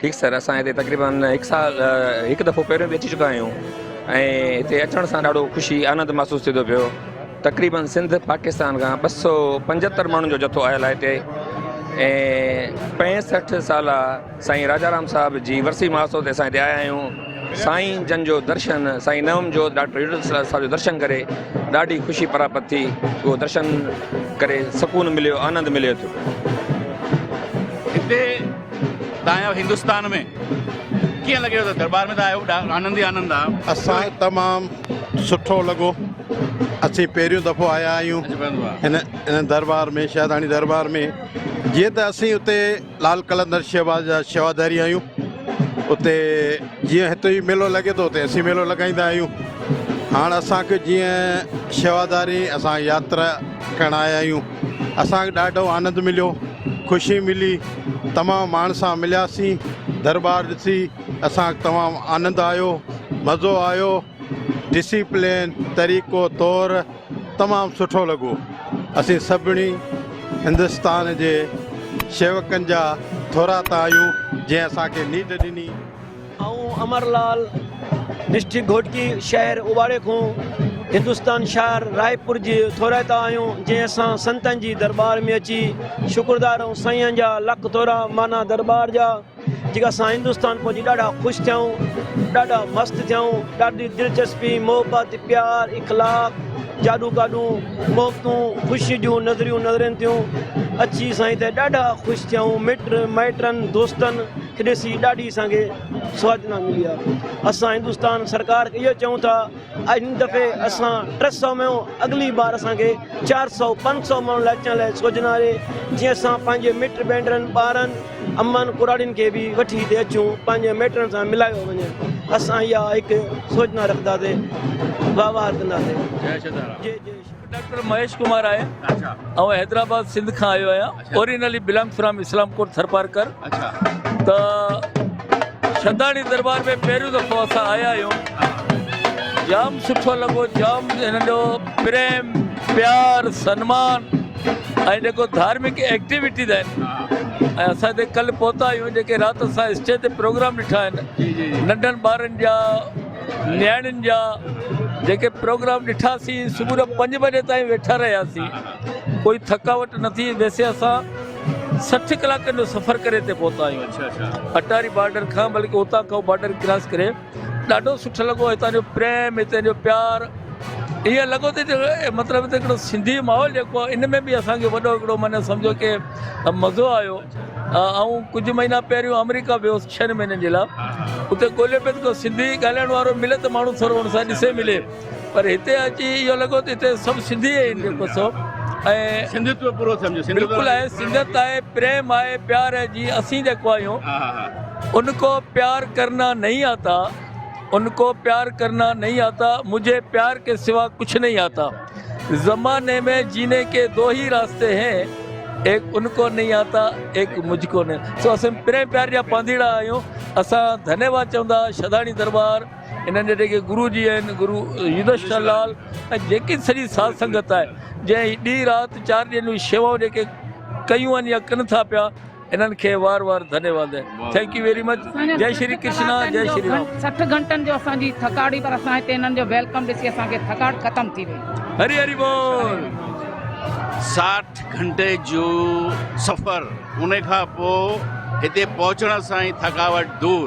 ٺيڪ سر اسان هتي تقريبن هڪ سال هڪ دفعو پهريون به اچي چڪا آهيون ۽ هتي اچڻ سان ڏاڍو خوشي آنند محسوس ٿي ٿو پيو تقريبن سنڌ پاڪستان کان ٻه سو پنجهتر ماڻهن جو جٿو آيل آهي هتي ۽ پنجهٺ سال سائين راجا رام صاحب جي ورسي ماسو تي اسان هتي آيا آهيون سائين جن جو درشن سائين نوم جو ڊاڪٽر صاحب جو درشن ڪري ڏاڍي خوشي پراپت ٿي اهو درشن ڪري سڪون مليو آنند مليو ٿو تان آيو هندستان ۾. ڪيئن لڳيو ته دربار ۾ ته آيو آنند ئي آنند آ. اسان کي تمام سٺو لڳو اسين پهريون دفعو آيا آهيون هن هن دربار ۾ شهداڻي دربار ۾ جيئن ته اسين اتي لال قلندر شهباز جا شيواداري آهيون اتي جيئن هتي ئي ميلو لڳي ٿو اتي اسين ميلو لڳائيندا آهيون هاڻ اسانکي جيئن شيواداري اسان ياترا ڪرڻ آيا آهيون اسانکي ڏاڍو آنند مليو خوشي ملي تمام ماڻهن سان ملياسين درٻار ڏسي اسان کي تمام آنند آيو مزو آيو ڊسيپلين طريقو طور تمام سٺو لڳو اسين سڀني هندستان جي شيوڪن جا ٿورا ته آهيون جنهن اسان کي نيڊ ڏني آئون امر لال ڊسٽرڪٽ گهوٽڪي شهر اوٻاڙي کون هندستان شهر رائپور جي ٿورائتا آهيون جنهن اسان سنتن جي دربار ۾ اچي شڪردار آهيون سائين جا لک ٿورا معنيٰ دربار جا جيڪا اسان هندستان پهچي ڏاڍا خوش ٿيائون ڏاڍا مست ٿيائون ڏاڍي دلچسپي محبت پيار اخلاق جاڏو گاڏون محبتون خوشي جون نظريون نظرين ٿيون اچي سائين ته ڏاڍا خوش ٿيائون مٽ مائٽن دوستن کي ڏسي ڏاڍي اسان کي سوچنا ملي آ اسان هندستان سرڪار کي اهو چئون ٿا ان دفعي اسان ٽي سؤ ۾ اڳلي بار اسان کي چار سؤ پنج سؤ ماڻهن لاء اچڻ لاء سوچنا آهي جيئن اسان پنهنجي مٽ بينڊرن ٻارن امن ڪراڙين کي به وٺي هتي اچون پنهنجي ميٽرن سان ملايو وڃي اسان اها هڪ سوچنا رکنداسي واهوار ڪنداسي جي جي ڊاڪٽر مهيش ڪمار آهي ۽ حيدرآباد سنڌ کان آيو آهيان originally belong from Islamkot Tharparkar ته شھداڻي دربار ۾ پهريون دفعو اسان آيا آهيون جام سٺو لڳو جام هنن جو پريم پيار سنمان ۽ جيڪو ڌارمڪ ايڪٽيويٽيز آهن ۽ اسان هتي ڪل پهتا آهيون جيڪي رات اسان اسٽيج تي پروگرام ڏٺا آهن ننڍن ٻارن جا نياڻين جا جيڪي پروگرام ڏٺاسين صبح جو پنج بجي تائين ويٺا رهياسين ڪوئي ٿڪاوٽ نه ٿي ويسي اسان سٺ ڪلاڪن جو سفر ڪري اتي پهتا آهيون اڇا اڇا اٽاري بارڊر کان بلڪ اتان کان بارڊر ڪراس ڪري ڏاڍو سٺو لڳو هتان جو پريم هتان جو پيار ائين لڳو ته مطلب ته هڪڙو سنڌي ماحول جيڪو آهي ان ۾ به اسان کي وڏو هڪڙو من سمجھو ڪي مزو آيو آئون ڪجھ مهينا پهريون آمريڪا ويو هوس ڇهن مهينن جي لاء اتي ڳولهيو پيو ته ڪو سنڌي ڳالهائڻ وارو ملي ته ماڻهو ٿورو ان سان ڏسي ملي پر هتي اچي اهو لڳو ته هتي سڀ سنڌي آهن جيڪو سو ۽ سنڌتو پورو سمجهو سنڌ بلڪل آهي سنڌت آهي پريم آهي پيار آهي جي اسين جيڪو آهيون ها ها ها ان ڪو پيار ڪرنا نهي آتا ان ڪو پيار ڪرنا نهي آتا مجهي پيار ڪي سوا ڪڇ نهي آتا زماني مي جيني ڪي دو هي راستي هين ايڪ ان ڪو نهي آتا ايڪ مجهه ڪو نهي سو اسين پريم پيار جا پانڌيئڙا آهيون اسان ڌنيواد چوندا شداڻي دربار انهن جا جيڪي گرو جي آهن گرو يوڌشٽر لال ۽ جيڪي سڄي ساڌ سنگت آهي جنهن هي ڏينهن رات چار ڏينهن جون شيوائون جيڪي ڪيون آهن يا ڪن ٿا پيا انهن کي وار وار ڌنيواد آهي ٿينڪ يو ويري مچ جي شري ڪرشنا جي شري رام 60 گهنٽن جو اسان جي ٿڪاڙ هئي پر اسان هتي انهن جو ويلڪم ڏسي اسان کي ٿڪاڙ ختم ٿي وئي هري هري بول 60 گهنٽي جو سفر ان کان پوء هتي پهچڻ سان ئي ٿڪاوٽ دور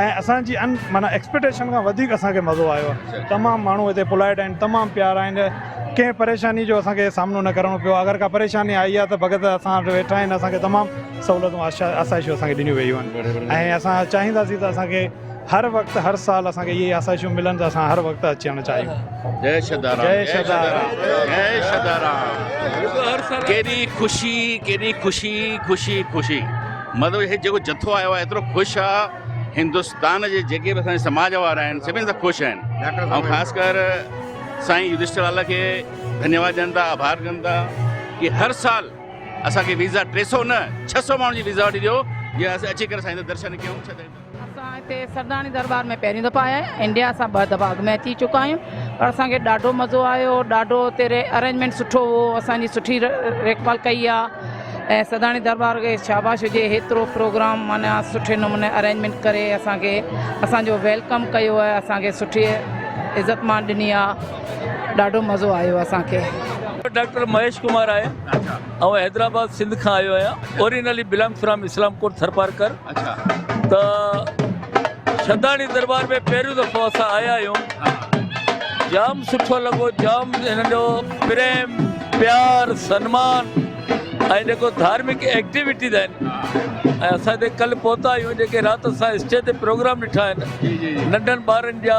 ۽ اسان جي ان معنيٰ ايڪسپيٽيشن کان وڌيڪ اسان کي مزو آيو آهي تمام ماڻهو هتي پولائٽ آهن تمام پيارا آهن ڪنهن پريشاني جو اسان کي سامنو نه ڪرڻو پيو آهي اگر ڪا پريشاني آئي آهي ته ڀڳت اسان وٽ ويٺا آهن اسان کي تمام سهولتون آسائشون اسان کي ڏنيون ويون آهن ۽ اسان چاهينداسين ته اسان کي هر وقت هر سال اسان کي اهي آسائشون ملن ته اسان هر وقت اچڻ چاهيون جي شدارام جي شدارام جي شدارام ڪيڏي خوشي ڪيڏي خوشي خوشي خوشي مطلب هي جيڪو جٿو آيو آهي ايترو خوش آ هندستان جي جيڪي به اسان جي سماج وارا آهن سڀني سان خوش آهن ۽ خاص ڪر سائين يوڌشٽر لال کي ڌنيواد ڏين ٿا آڀار ڪن ٿا ڪي هر سال اسان کي ويزا ٽي سو نه ڇهه سو ماڻهن جي ويزا وٺي ڏيو جي اسان اچي ڪري سائين جا درشن ڪيون اسان هتي سرداڻي درٻار ۾ پهرين دفعا آيا آهيون انڊيا سان ٻه دفعا اڳ ۾ اچي چڪا آهيون پر اسان کي ڏاڍو مزو آيو ڏاڍو هتي ري ارينجمينٽ سٺو هو اسان جي سٺي ريکڀال ڪئي آهي ۽ سرداڻي درٻار کي شاباش هجي هيترو پروگرام معنيٰ سٺي نموني ارينجمينٽ ڪري اسان کي اسان جو ويلڪم ڪيو آهي اسان کي سٺي عزت مان ڏني آهي ڏاڍو مزو آيو اسان کي ڊاڪٽر مهيش ڪمار آهي آئون حيدرآباد سنڌ کان آيو آهيان originally belong from Islamkot Tharparkar اڇا ته شھداڻي دربار ۾ پهريون دفعو اسان آيا آهيون جام سٺو لڳو جام هنن جو پريم پيار سنمان ۽ جيڪو ڌارمڪ ايڪٽيويٽيز آهن ۽ اسان هتي ڪل پهتا آهيون جيڪي رات اسان اسٽيج تي پروگرام ڏٺا آهن ننڍن ٻارن جا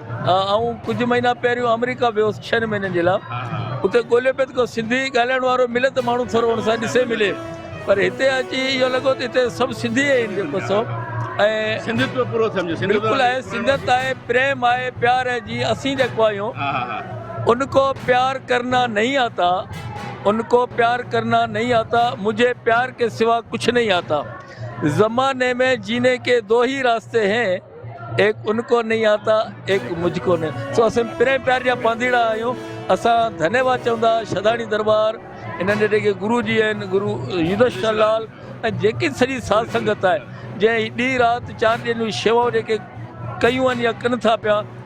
آئون ڪجهه مهينا پهريون آمريڪا ويو هوس ڇهن مهينن جي لاء اتي ڳولهيو پيو ته ڪو سنڌي ڳالهائڻ وارو ملي ته ماڻهو ٿورو هن سان ڏسي ملي پر هتي اچي اهو لڳو ته هتي سڀ سنڌي ئي آهن جيڪو سو بلڪل آهي سنگت آهي پريم آهي پيار آهي جي اسين جيڪو آهيون ان کو پيار ڪرنا نهي آتا ان کو پيار ڪرنا نهي آتا مجهي پيار ڪي سوا ڪڇ نهي آتا زماني ۾ جيني ڪي دو هي راسته هين ايڪ ان ڪو نهين آتا ايڪ مجھ ڪو نهين سو اسين پرين پيار جا پانڌيئڙا آهيون اسان ڌنيواد چون ٿا شھداڻي درٻار انهن جي جيڪي گرو جي آهن گرو يوڌش شاھ لال ۽ جيڪي سڄي ساڌ سنگت آهي جنهن ڏينهن رات چار ڏينهن جون شيوائون جيڪي ڪيون آهن يا ڪن ٿا پيا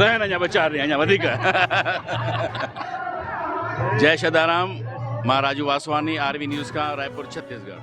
رهن اڃا ٻه چار ڏينهن اڃا وڌيڪ جئي شدارام مان Raju Vaswani R V news کان رائپور ڇتيس ڳڙھ.